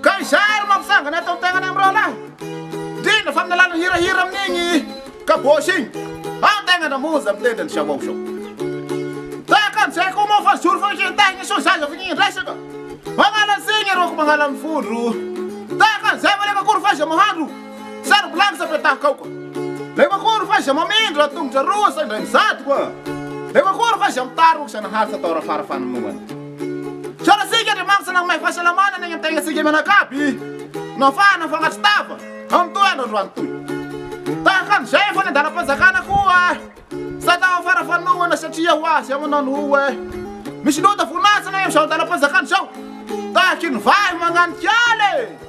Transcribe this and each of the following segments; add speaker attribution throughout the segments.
Speaker 1: Ka izay ary mampitsangana ato am-piainana amin'ny rahalahy, indrindra fa amin'ny alalan'ny hirahira amin'igny kabôsy igny, ao tegna na monja mitendry an'i Jawaw zao. Tahaka an'izay koa moa fa zoro fankentahin'i Soja aza avy ny resaka, magnala an'izigny ireo ko magnala ny vondro, tahaka an'izay ve rehefa akory f'aiza mahandro sary blagy sa petahaka ao ka, rehefa akory f'aiza mamindra tongotra roa sa indray mizadogna, rehefa akory f'aiza mitarogny sa naharitra tao ara-fara-fanonoana. Misaotra antsika Andriamanitra nanome fahasalamana ny aintenatsika mianakavy nahafahana mifangatro tava amin'itoy andro androany itoy. Tahaka an'izay efa ny andalam-panjakana koa tsy atao afara fanohana satria ho azy amanao ny hoho eh. Misy loto voninahitra ny amin'izao andalam-panjakana izao tahaka iny vahy manganika ala e!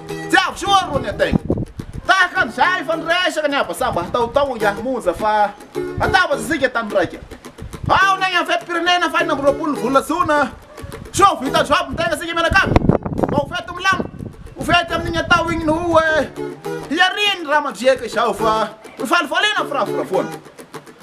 Speaker 1: Tsy avy soa ary rony ataiko. Tahaka an'izay efa niresaka ny habasaba tao tao iany monja fa natabatsa isika tany raika. Ao ny any amin'ny fetim-pirenena fahenina amby roapolo ny volana jona. Sao vita job ny tegna isika mianakavy? Mba ho fety milamina, ho fety amin'igny atao igny no hoe hiarian'ny raha mandriaka izao fa nifalifaliana firafirafoana.